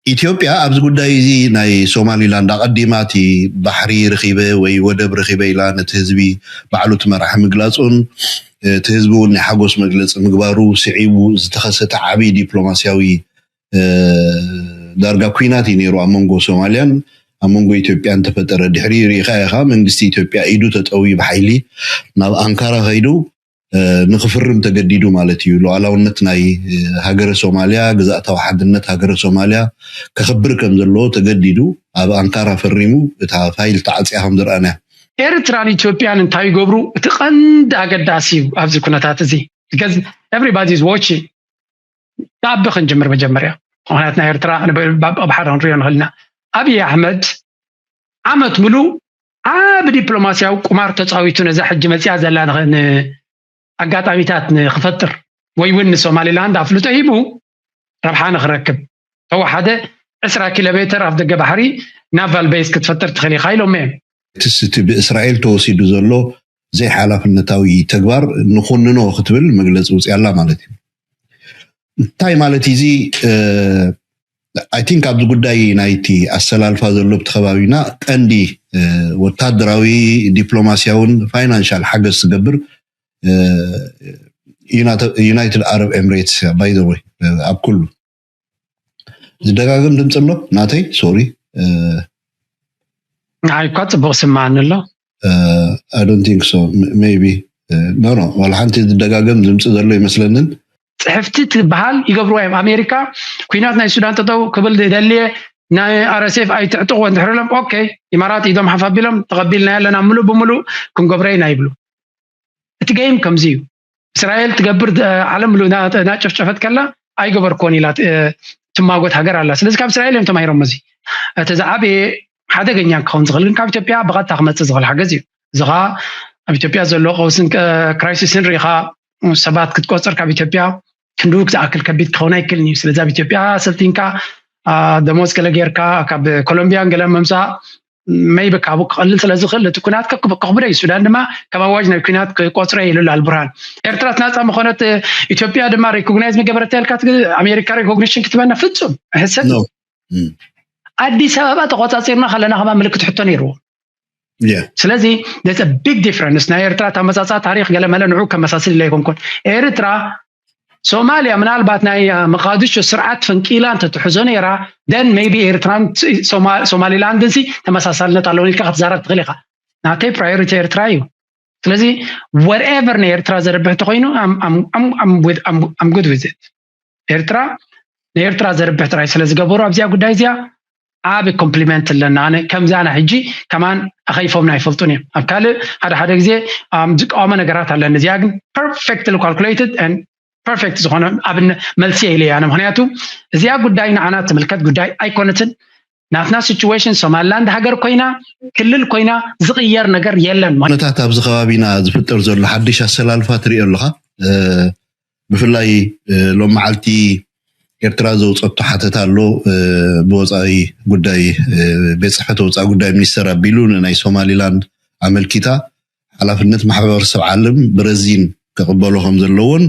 ኢትዮጵያ ኣብዚ ጉዳይ'ዚ ናይ ሶማሊላንድ ኣቐዲማ እቲ ባሕሪ ረኺበ ወይ ወደብ ረኺበ ኢላ ነቲ ህዝቢ ባዕሉ እቲ መራሒ ምግላጹን እቲ ህዝቢ'ውን ናይ ሓጎስ መግለጺ ምግባሩ ስዒቡ ዝተኸሰተ ዓቢ ዲፕሎማስያዊ ዳርጋ ኲናት እዩ ነይሩ ኣብ መንጎ ሶማልያን ኣብ መንጎ ኢትዮጵያን ተፈጠረ ድሕሪኡ ርኢኻ ኢኻ መንግስቲ ኢትዮጵያ ኢዱ ተጠውዩ ብሓይሊ ናብ ኣንካራ ከይዱ ንክፍርም ተገዲዱ ማለት እዩ። ሉኣላውነት ናይ ሃገረ ሶማልያ፣ ግዝኣታዊ ሓድነት ሃገረ ሶማልያ ከኽብር ከም ዘለዎ ተገዲዱ ኣብ ኣንካራ ፈሪሙ እታ ፋይል ተዓጽያ ከም ዝረኣናያ። ኤርትራን ኢትዮጵያን እንታይ ይገብሩ እቲ ቀንዲ ኣገዳሲ እዩ ኣብዚ ኩነታት እዚ because everybody is watching ካብ ክንጅምር መጀመርያ ምክንያት ናይ ኤርትራ ኣብ ሓደ ክንሪኦ ንኽእል ኢና ኣብዪ ኣሕመድ ዓመት ምሉእ ዓብ ዲፕሎማስያዊ ቁማር ተፃዊቱ ነዛ ሕጂ መፅኣ ዘላ ኣጋጣሚታት ንክፈጥር ወይ እውን ንሶማሊላንድ ኣፍልጦ ሂቡ ረብሓ ንክረክብ ተወሓደ ዕስራ ኪሎሜተር ኣፍደገ ባሕሪ ናቫል በይስ ክትፈጥር ትኽእል ኢኻ ኢሎም'የም። ኤምሬትስ እቲ ብእስራኤል ተወሲዱ ዘሎ ዘይሓላፍነታዊ ተግባር ንኹንኖ ክትብል መግለፂ ውፂኣላ ማለት እዩ። እንታይ ማለት እዩ እዚ ኣይ ቲንክ ኣብዚ ጉዳይ ናይቲ ኣሰላልፋ ዘሎ ኣብቲ ከባቢና ቀንዲ ወታደራዊ ዲፕሎማሲያውን ፋይናንሻል ሓገዝ ትገብር ዩናይትድ ኣረብ ኤምሬትስ ባይ ዘ ወይ ኣብ ኩሉ ዝደጋግም ድምፂ ኣሎ ናተይ ሶሪ ንዓይ እኳ ፅቡቅ ስማዓኒ ኣሎ ኣይዶንት ቲንክ ሶ ሜቢ ኖ ኖ ዋላ ሓንቲ ዝደጋገም ድምፂ ዘሎ ይመስለንን ፅሕፍቲ ትበሃል ይገብርዋ እዮም ኣሜሪካ ኩናት ናይ ሱዳን ጠጠው ክብል ደልየ ናይ ኣረሴፍ ኣይትዕጥቅዎ እንድሕር ኢሎም ኦኬ ኢማራት ኢዶም ሓፍ ኣቢሎም ተቐቢልና ኣለና ምሉእ ብምሉእ ክንገብሮ ኢና ይብሉ እቲ ገይም ከምዚ እዩ እስራኤል ትገብር ዓለም እናጨፍጨፈት ከላ ኣይገበርኮን ኢላ ትማጎት ሃገር ኣላ ስለዚ ካብ እስራኤል እዮም ተማሂሮም እዚ እቲ ዝዓበየ ሓደገኛ ክኸውን ዝኽእል ግን ካብ ኢትዮጵያ ብቐጥታ ክመፅእ ዝኽእል ሓገዝ እዩ እዚ ከዓ ኣብ ኢትዮጵያ ዘሎ ቀውስን ክራይሲስን ሪኢኻ ሰባት ክትቆፅር ካብ ኢትዮጵያ ክንድኡ ክትኣክል ከቢድ ክኸውን ኣይክእልን እዩ ስለዚ ኣብ ኢትዮጵያ ሰልጢንካ ደሞዝ ገለ ጌርካ ካብ ኮሎምቢያን ገለ ምምፃእ መይበ ካብኡ ክቐልል ስለ ዝኽእል እቲ ኩናት ከኽብደ እዩ ሱዳን ድማ ካብ ኣዋጅ ናይ ኩናት ክቆፅረ ኢሉ ኣሎ ኣልቡርሃን ኤርትራት ናፃ ምኾነት ኢትዮጵያ ድማ ሪኮግናይዝ ምገበረታ ኢልካ ኣሜሪካ ሪኮግኒሽን ክትበና ፍፁም ሕሰብ ኣዲስ ኣበባ ተቆፃፂርና ከለና ከማ ምልክት ሕቶ ነይርዎ ስለዚ ስ ቢግ ዲፍረንስ ናይ ኤርትራ ተመፃፃ ታሪክ ገለመለ ንዑ ከመሳስል ኢለ ኣይኮንኩን ኤርትራ ሶማልያ ምናልባት ናይ መቃድሾ ስርዓት ፈንቂላ እንተትሕዞ ነይራ ደን ቢ ኤርትራን ሶማሊላንድን ሲ ተመሳሳልነት ኣለዎ ኢልካ ክትዛረብ ትኽእል ኢኻ ናተይ ፕራዮሪቲ ኤርትራ እዩ ስለዚ ወርኤቨር ንኤርትራ ዘርብሕ እንተኮይኑ ኣም ጉድ ዊዝ ኤርትራ ንኤርትራ ዘርብሕ ጥራይ ስለ ዝገበሩ ኣብዚኣ ጉዳይ እዚኣ ዓብ ኮምፕሊመንት ኣለና ኣነ ከምዚ ኣነ ሕጂ ከማን ኣኸይፎምና ኣይፈልጡን እዮም ኣብ ካልእ ሓደ ሓደ ግዜ ዝቃወመ ነገራት ኣለኒ እዚኣ ግን ፐርፌክትሊ ካልኩሌትድ ፐርፌክት ዝኾነ ኣብነ መልሲ ኢለ ኣነ ምክንያቱ እዚኣ ጉዳይ ንዓና ትምልከት ጉዳይ ኣይኮነትን ናትና ሲቹዌሽን ሶማሊላንድ ሃገር ኮይና ክልል ኮይና ዝቕየር ነገር የለን። ኩነታት ኣብዚ ከባቢና ዝፍጠር ዘሎ ሓድሽ ኣሰላልፋ ትሪኦ ኣለኻ። ብፍላይ ሎም መዓልቲ ኤርትራ ዘውፀቶ ሓተታ ኣሎ ብወፃኢ ጉዳይ ቤት ፅሕፈት ወፃኢ ጉዳይ ሚኒስተር ኣቢሉ ንናይ ሶማሊላንድ ኣመልኪታ ሓላፍነት ማሕበረሰብ ዓለም ብረዚን ክቕበሎ ከም ዘለዎን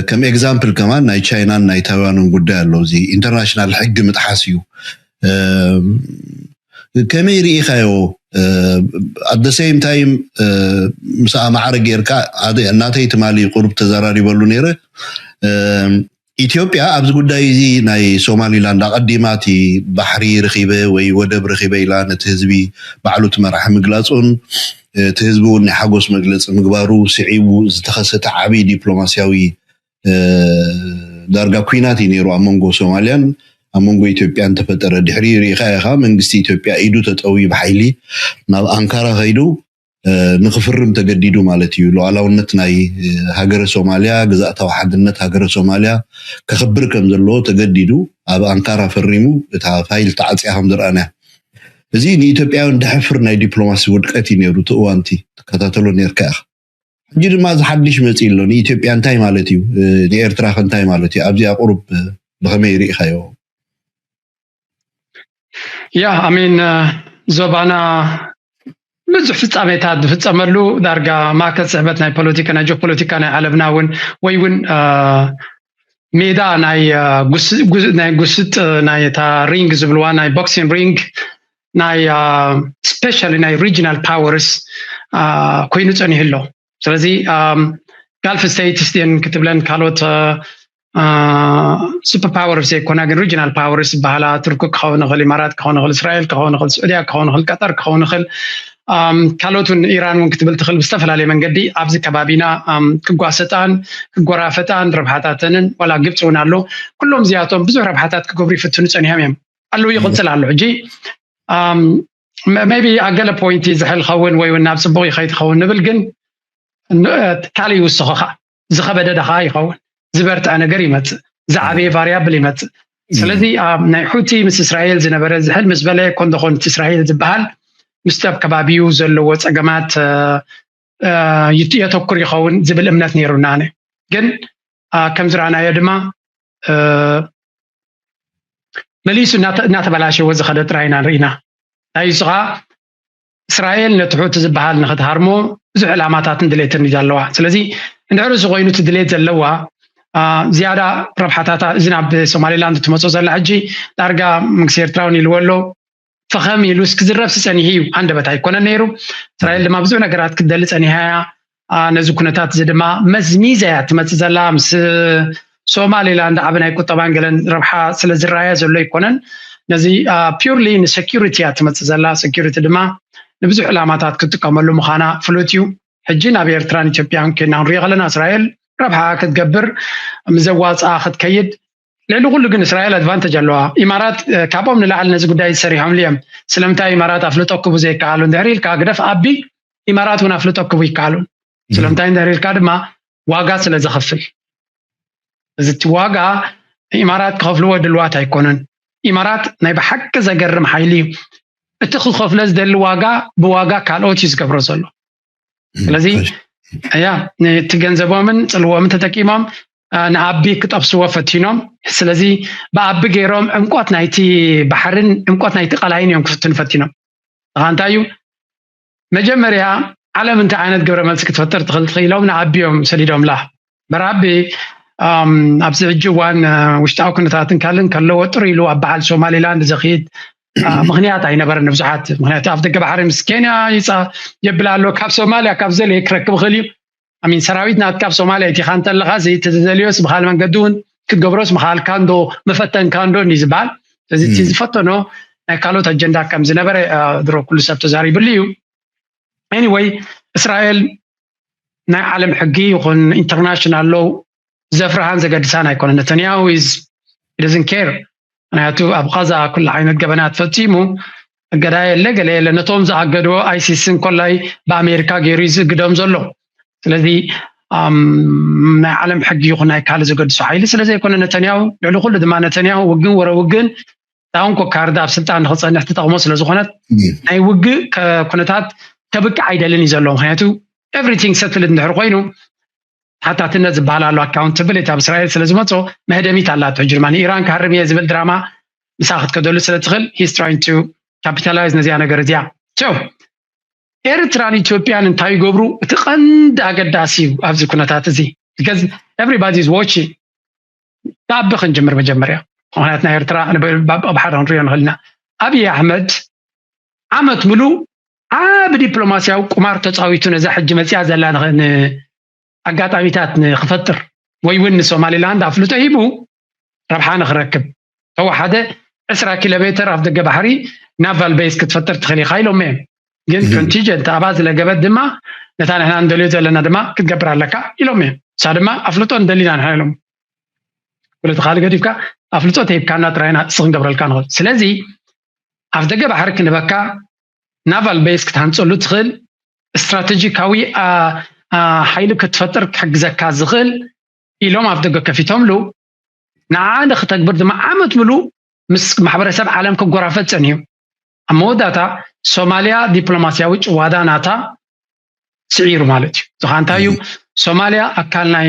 ከም ኤግዛምፕል ከማን ናይ ቻይናን ናይ ታይዋንን ጉዳይ ኣሎ እዚ ኢንተርናሽናል ሕጊ ምጥሓስ እዩ ከመይ ርኢኻዮ ኣደ ሰይም ታይም ምስኣ ማዕረ ጌርካ እናተይ ትማሊ ቁርብ ተዘራሪበሉ ነይረ ኢትዮጵያ ኣብዚ ጉዳይ እዚ ናይ ሶማሊላንድ ኣቐዲማ እቲ ባሕሪ ረኺበ ወይ ወደብ ረኺበ ኢላ ነቲ ህዝቢ ባዕሉ እቲ መራሒ ምግላጹን እቲ ህዝቢ እውን ናይ ሓጎስ መግለጺ ምግባሩ ስዒቡ ዝተኸሰተ ዓብዪ ዲፕሎማስያዊ ዳርጋ ኲናት እዩ ነይሩ ኣብ መንጎ ሶማልያን ኣብ መንጎ ኢትዮጵያን ተፈጠረ ድሕሪኡ ርኢኻዮ ኢኻ መንግስቲ ኢትዮጵያ ኢዱ ተጠውዩ ብሓይሊ ናብ ኣንካራ ከይዱ ንክፍርም ተገዲዱ ማለት እዩ። ሉኣላውነት ናይ ሃገረ ሶማልያ፣ ግዝኣታዊ ሓድነት ሃገረ ሶማልያ ከኽብር ከም ዘለዎ ተገዲዱ ኣብ ኣንካራ ፈሪሙ እታ ፋይል ተዓጽያ ከም ዝረኣናያ። እዚ ንኢትዮጵያውያን ደሕፍር ናይ ዲፕሎማሲ ውድቀት እዩ ነይሩ እቲ እዋንቲ ትከታተሎ ኔርካ ኢኻ። ሕጂ ድማ እዚ ሓድሽ መጺኡ ኣሎ ንኢትዮጵያ እንታይ ማለት እዩ ንኤርትራኸ እንታይ ማለት እዩ ኣብዚ ኣቁሩብ ብኸመይ ሪኢኻዮ? ያ ኣሜን ዞባና ብዙሕ ፍፃሜታት ዝፍፀመሉ ዳርጋ ማእከል ስሕበት ናይ ፖለቲካ ናይ ጂኦፖለቲካ ናይ ዓለምና እውን ወይ እውን ሜዳ ናይ ናይ ጉስጥ ናይ እታ ሪንግ ዝብልዋ ናይ ቦክሲን ሪንግ ናይ ስፔሻሊ ናይ ሪጂናል ፓወርስ ኮይኑ ፀኒሑ ኣሎ ስለዚ ጋልፍ ስቴትስ ድን ክትብለን ካልኦት ሱፐር ፓወርስ ዘይኮና ግን ሪጅናል ፓወርስ ዝበሃላ ቱርኪ ክኸውን ይኽእል ኢማራት ክኸውን ይኽእል እስራኤል ክኸውን ይኽእል ስዑድያ ክኸውን ይኽእል ቀጠር ክኸውን ይኽእል ካልኦት እውን ኢራን እውን ክትብል ትኽእል ብዝተፈላለየ መንገዲ ኣብዚ ከባቢና ክጓሰጣን ክጎራፈጣን ረብሓታተንን ዋላ ግብፂ እውን ኣሎ ኩሎም እዚኣቶም ብዙሕ ረብሓታት ክገብሩ ይፍትኑ ፀኒሖም እዮም ኣለዉ ይቕፅል ኣሎ ሕጂ ቢ ኣብ ገለ ፖይንቲ ዝሕል ኸውን ወይ እውን ናብ ፅቡቅ ይኸይድ ኸውን ንብል ግን ካልእ ይውስኸኻ ዝኸበደ ዳኻ ይኸውን ዝበርትዐ ነገር ይመጽእ ዝዓበየ ቫርያብል ይመጽእ ስለዚ ኣብ ናይ ሑቲ ምስ እስራኤል ዝነበረ ዝሕል ምስ በለ ኮን ዶኾን እቲ እስራኤል ዝበሃል ምስቲ ኣብ ከባቢኡ ዘለዎ ፀገማት የተኩር ይኸውን ዝብል እምነት ነይሩና ነ ግን ከም ዝረኣናዮ ድማ መሊሱ እናተበላሸወ ዝኸደ ጥራይና ርኢና ናይ እሱ ከዓ እስራኤል ነቲ ሑቲ ዝበሃል ንክትሃርሞ ብዙሕ ዕላማታትን ድሌትን እዩ ኣለዋ ስለዚ እንድሕር እዚ ኮይኑ እቲ ድሌት ዘለዋ ዝያዳ ረብሓታታ እዚ ናብ ሶማሌላንድ እትመፅኦ ዘላ ሕጂ ዳርጋ መንግስቲ ኤርትራውን ኢልዎ ኣሎ ፈኸም ኢሉስ ክዝረብሲ ፀኒሑ እዩ ሃንደበት ኣይኮነን ነይሩ እስራኤል ድማ ብዙሕ ነገራት ክትደሊ ፀኒሓ እያ ነዚ ኩነታት እዚ ድማ መዝሚዛ እያ ትመፅእ ዘላ ምስ ሶማሊላንድ ዓብ ናይ ቁጠባን ገለን ረብሓ ስለ ዝረኣያ ዘሎ ኣይኮነን ነዚ ፒርሊ ንሴኪሪቲ እያ ትመፅእ ዘላ ሴኪሪቲ ድማ ንብዙሕ ዕላማታት ክትጥቀመሉ ምዃና ፍሉጥ እዩ ሕጂ ናብ ኤርትራን ኢትዮጵያን ኮይና ክንሪኦ ከለና እስራኤል ረብሓ ክትገብር ምዘዋፅኣ ክትከይድ ልዕሊ ኩሉ ግን እስራኤል ኣድቫንተጅ ኣለዋ ኢማራት ካብኦም ንላዕሊ ነዚ ጉዳይ ዝሰሪሖምሉ እዮም ስለምንታይ ኢማራት ኣፍልጦ ክቡ ዘይከኣሉ እንድሕር ኢልካ ግደፍ ኣቢ ኢማራት እውን ኣፍልጦ ክቡ ይከኣሉ ስለምንታይ እንድሕር ኢልካ ድማ ዋጋ ስለ ዘኸፍል እዚ እቲ ዋጋ ኢማራት ክኸፍልዎ ድልዋት ኣይኮነን ኢማራት ናይ ብሓቂ ዘገርም ሓይሊ እዩ እቲ ክኸፍሎ ዝደሊ ዋጋ ብዋጋ ካልኦት እዩ ዝገብሮ ዘሎ ስለዚ ያ እቲ ገንዘቦምን ፅልዎምን ተጠቂሞም ንኣቢ ክጠብስዎ ፈቲኖም ስለዚ ብኣቢ ገይሮም ዕምቆት ናይቲ ባሕርን ዕምቆት ናይቲ ቀላይን እዮም ክፍትኑ ፈቲኖም እኻ እንታይ እዩ መጀመርያ ዓለም እንታይ ዓይነት ግብረ መልሲ ክትፈጥር ትኽእል ኢሎም ንኣቢ እዮም ሰዲዶምላ መርሃቤ ኣብዚ ሕጂ እዋን ውሽጣዊ ኩነታትን ካልእን ከለዎ ጥር ኢሉ ኣብ በዓል ሶማሌላንድ ዘኽይድ ምክንያት ኣይነበረን ንብዙሓት ምክንያቱ ኣብ ደገ ባሕሪ ምስ ኬንያ ይፃ የብል ኣሎ ካብ ሶማልያ ካብ ዘልየ ክረክብ ይኽእል እዩ ኣሚን ሰራዊት ናት ካብ ሶማልያ ኢቲኻ እንተለኻ ዘይተዘልዮስ ብካል መንገዲ እውን ክትገብሮስ ምካልካ እንዶ መፈተንካ እንዶ እንዲ ዝበሃል ስለዚ እቲ ዝፈተኖ ናይ ካልኦት ኣጀንዳ ከም ዝነበረ ድሮ ኩሉ ሰብ ተዛሪብሉ እዩ ኤኒወይ እስራኤል ናይ ዓለም ሕጊ ይኹን ኢንተርናሽናል ሎው ዘፍርሃን ዘገድሳን ኣይኮነ ነተንያሁ ኢዝ ደዝን ኬር ምክንያቱ ኣብ ቃዛ ኩሉ ዓይነት ገበናት ፈፂሙ እገዳ የለ ገለ የለ ነቶም ዝኣገድዎ ኣይሲስ እንኮላይ ብኣሜሪካ ገይሩ እዩ ዝእግዶም ዘሎ ስለዚ ናይ ዓለም ሕጊ ይኹን ናይ ካልእ ዘገድሶ ሓይሊ ስለዘይኮነ ነተንያሁ ልዕሊ ኩሉ ድማ ነተንያሁ ውግን ወረ ውግን እታ እንኮ ካርድ ኣብ ስልጣን ንክፀንሕ ትጠቕሞ ስለዝኾነት ናይ ውግእ ኩነታት ከብቅዕ ኣይደልን እዩ ዘሎ ምክንያቱ ኤቭሪቲንግ ሰትልድ እንድሕር ኮይኑ ሓታትነት ዝበሃል ኣሎ ኣካውንታብሊቲ ኣብ እስራኤል ስለዝመፆ መህደሚት ኣላቶ ሕጂ ድማ ንኢራን ክሃርም እየ ዝብል ድራማ ምሳ ክትከደሉ ስለትኽእል ሂስ ትራይን ቱ ካፒታላይዝ ነዚኣ ነገር እዚኣ ሶ ኤርትራን ኢትዮጵያን እንታይ ይገብሩ እቲ ቀንዲ ኣገዳሲ እዩ ኣብዚ ኩነታት እዚ ቢካዝ ኤቨሪባዲ ኢዝ ዋቺንግ ብኣቢ ክንጅምር መጀመርያ ምክንያት ናይ ኤርትራ ኣብ ሓደ ክንሪኦ ንኽእል ኢና ኣብዪ ኣሕመድ ዓመት ምሉእ ዓብ ዲፕሎማስያዊ ቁማር ተፃዊቱ ነዛ ሕጂ መፅያ ዘላ ኣጋጣሚታት ንክፈጥር ወይ እውን ንሶማሊላንድ ኣፍልጦ ሂቡ ረብሓ ንክረክብ ተወሓደ ዕስራ ኪሎሜተር ኣፍ ደገ ባሕሪ ናቫል ቤዝ ክትፈጥር ትኽእል ኢኻ ኢሎሞ እዮም ግን ኮንቲጀንት ኣብኣ ዝለገበት ድማ ነታ ንሕና እንደልዮ ዘለና ድማ ክትገብር ኣለካ ኢሎም እዮም እሳ ድማ ኣፍልጦ እንደሊና ንሕና ኢሎም ኩለቲ ካልእ ገዲፍካ ኣፍልጦ ተሂብካና ጥራይና እስ ክንገብረልካ ንኽእል ስለዚ ኣፍ ደገ ባሕሪ ክንበካ ናቫል ቤዝ ክትሃንፀሉ ትኽእል ስትራቴጂካዊ ሓይሊ ክትፈጥር ክሕግዘካ ዝኽእል ኢሎም ኣፍ ደገ ከፊቶምሉ ንዓኣ ንክተግብር ድማ ዓመት ምሉእ ምስ ማሕበረሰብ ዓለም ክጎራፈጥ ጸኒሑ። ኣብ መወዳእታ ሶማልያ ዲፕሎማስያዊ ጭዋዳ ናታ ስዒሩ ማለት እዩ። እዚ ከዓ እንታይ እዩ? ሶማልያ ኣካል ናይ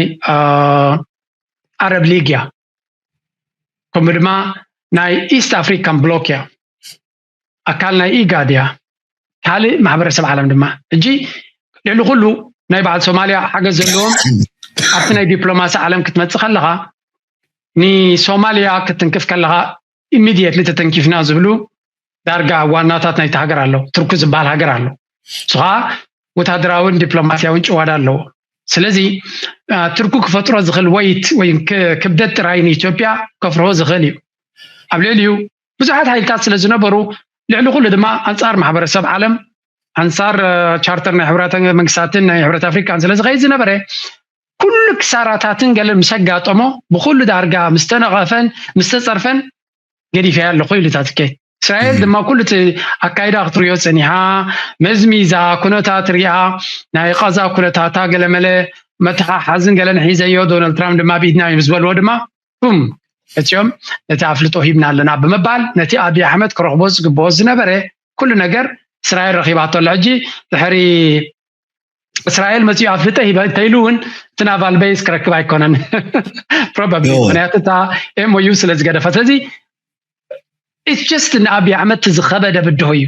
ዓረብ ሊግ እያ ከምኡ ድማ ናይ ኢስት ኣፍሪካን ብሎክ እያ። ኣካል ናይ ኢጋድ እያ ካልእ ማሕበረሰብ ዓለም ድማ ሕጂ ልዕሊ ኩሉ ናይ በዓል ሶማልያ ሓገዝ ዘለዎም ኣብቲ ናይ ዲፕሎማሲ ዓለም ክትመፅእ ከለኻ ንሶማልያ ክትንክፍ ከለኻ ኢሚድየትሊ ተተንኪፍና ዝብሉ ዳርጋ ዋናታት ናይቲ ሃገር ኣለዉ ትርኩ ዝበሃል ሃገር ኣሎ ንስኻ ወታደራዊን ዲፕሎማስያዊን ጭዋዳ ኣለዎ ስለዚ ትርኩ ክፈጥሮ ዝኽእል ወይት ወይ ክብደት ጥራይ ንኢትዮጵያ ከፍርሆ ዝኽእል እዩ ኣብ ልዕሊኡ ብዙሓት ሓይልታት ስለ ዝነበሩ ልዕሊ ኩሉ ድማ ኣንፃር ማሕበረሰብ ዓለም ኣንፃር ቻርተር ናይ ሕብራት መንግስታትን ናይ ሕብረት ኣፍሪካን ስለ ዝኸይድ ዝነበረ ኩሉ ክሳራታትን ገለ ምስ ኣጋጠሞ ብኩሉ ዳርጋ ምስ ተነቐፈን ምስ ተፀርፈን ገዲፈያ ኣለኹ ኢሉ እታ ትኬ እስራኤል ድማ ኩሉ እቲ ኣካይዳ ክትሪኦ ፀኒሓ መዝሚዛ ኩነታት ሪኣ ናይ ቐዛ ኩነታታ ገለመለ መተሓሓዝን ገለን ሒዘዮ ዶናልድ ትራምፕ ድማ ብኢድና እዩ ምስ በልዎ ድማ ቱም እትዮም ነቲ ኣፍልጦ ሂብና ኣለና ብምባል ነቲ ኣብዪ ኣሕመድ ክረኽቦ ዝግብኦ ዝነበረ ኩሉ ነገር እስራኤል ረኺባቶ ኣሎ ሕጂ ድሕሪ እስራኤል መፅኡ ኣፍልጠ ሂበ እንተኢሉ እውን እቲ ናቫል ቤዝ ክረክብ ኣይኮነን ፕሮባብሊ ምክንያቱ እታ ኤምኦዩ ስለ ዝገደፈ ስለዚ ኢትስ ጀስት ንኣብዪ ኣሕመድ እቲ ዝኸበደ ብድሆ እዩ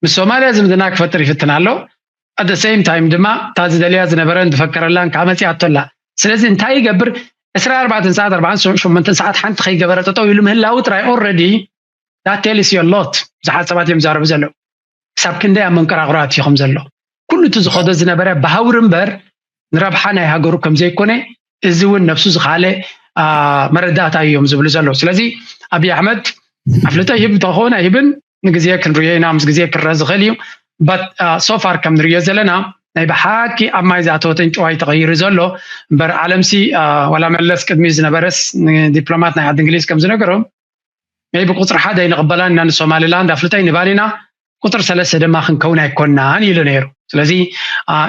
ምስ ሶማልያ ዝምድና ክፈጥር ይፍትን ኣሎ ኣደ ሰይም ታይም ድማ እታ ዝደልያ ዝነበረን ዝፈከረላን ከዓ መፂኣቶ ኣላ ስለዚ እንታይ ይገብር ዕስራ ኣርባዕተ ሰዓት ኣርባዓን ሸሞንተን ሰዓት ሓንቲ ከይገበረ ጠጠው ኢሉ ምህላው ጥራይ ኦልረዲ ዳት ቴልስ ዩ ሎት ብዙሓት ሰባት እዮም ዝዛረቡ ዘለዉ ክሳብ ክንደይ ኣብ መንቀራቑራት እዩ ከም ዘሎ ኩሉ እቲ ዝኸዶ ዝነበረ ብሃውሪ እምበር ንረብሓ ናይ ሃገሩ ከም ዘይኮነ እዚ እውን ነብሱ ዝኸኣለ መረዳእታ እዮም ዝብሉ ዘለዉ ስለዚ ኣብዪ ኣሕመድ ኣፍልጦ ይህብ እንተኾነ ኣይህብን ንግዜ ክንሪኦ ኢና ምስ ግዜ ክረአ ዝኽእል እዩ በት ሶፋር ከም ንሪኦ ዘለና ናይ ብሓቂ ኣብ ማይ ዝኣተወት ዕንጭዋይ ተቐይሩ ዘሎ እምበር ዓለምሲ ዋላ መለስ ቅድሚ ዝነበረስ ንዲፕሎማት ናይ ዓዲ እንግሊዝ ከም ዝነገሮም ናይ ብቁፅሪ ሓደ ኣይንቕበላን ኢና ንሶማሊላንድ ኣፍልጦ ይንባን ኢና ቁፅሪ ሰለስተ ድማ ክንከውን ኣይኮናን ኢሉ ነይሩ ስለዚ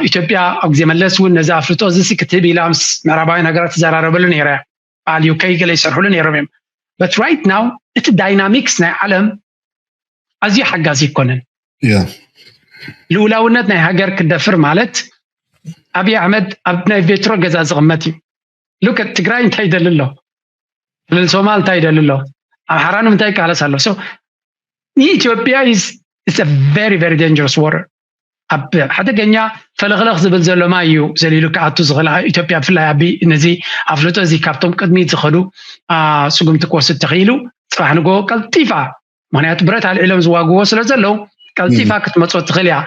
ኢትዮጵያ ኣብ ግዜ መለስ እውን ነዚ ኣፍልጦ እዚ ሲ ክትህብ ኢላ ምስ ምዕራባውያን ሃገራት ትዘራረበሉ ነይረ በዓል ዩከይ ገለ ይሰርሕሉ ነይሮም እዮም በት ራይት ናው እቲ ዳይናሚክስ ናይ ዓለም ኣዝዩ ሓጋዚ ይኮነን ልኡላውነት ናይ ሃገር ክደፍር ማለት ኣብዪ ኣሕመድ ኣብ ናይ ቬትሮ ገዛ ዝቕመጥ እዩ ሉክ ኣት ትግራይ እንታይ ይደሊ ኣሎ ክልል ሶማል እንታይ ይደሊ ኣሎ ኣምሓራ ንምንታይ ይቃለስ ኣሎ ሶ ኢትዮጵያ ኢዝ ቨሪ ቨሪ ዳንጀረስ ዋተር ኣብ ሓደገኛ ፈለኽለኽ ዝብል ዘሎ ማይ እዩ ዘሊሉ ክኣቱ ዝኽእል ኣብ ኢትዮጵያ ብፍላይ ኣቢ ነዚ ኣፍልጦ እዚ ካብቶም ቅድሚት ዝኸዱ አ፣ ስጉምቲ ክወስድ ተኽኢሉ ፅባሕ ንጎ ቀልጢፋ ምክንያቱ ብረት ኣልዒሎም ዝዋግዎ ስለ ዘለዉ ቀልጢፋ ክትመፆ ትኽእል እያ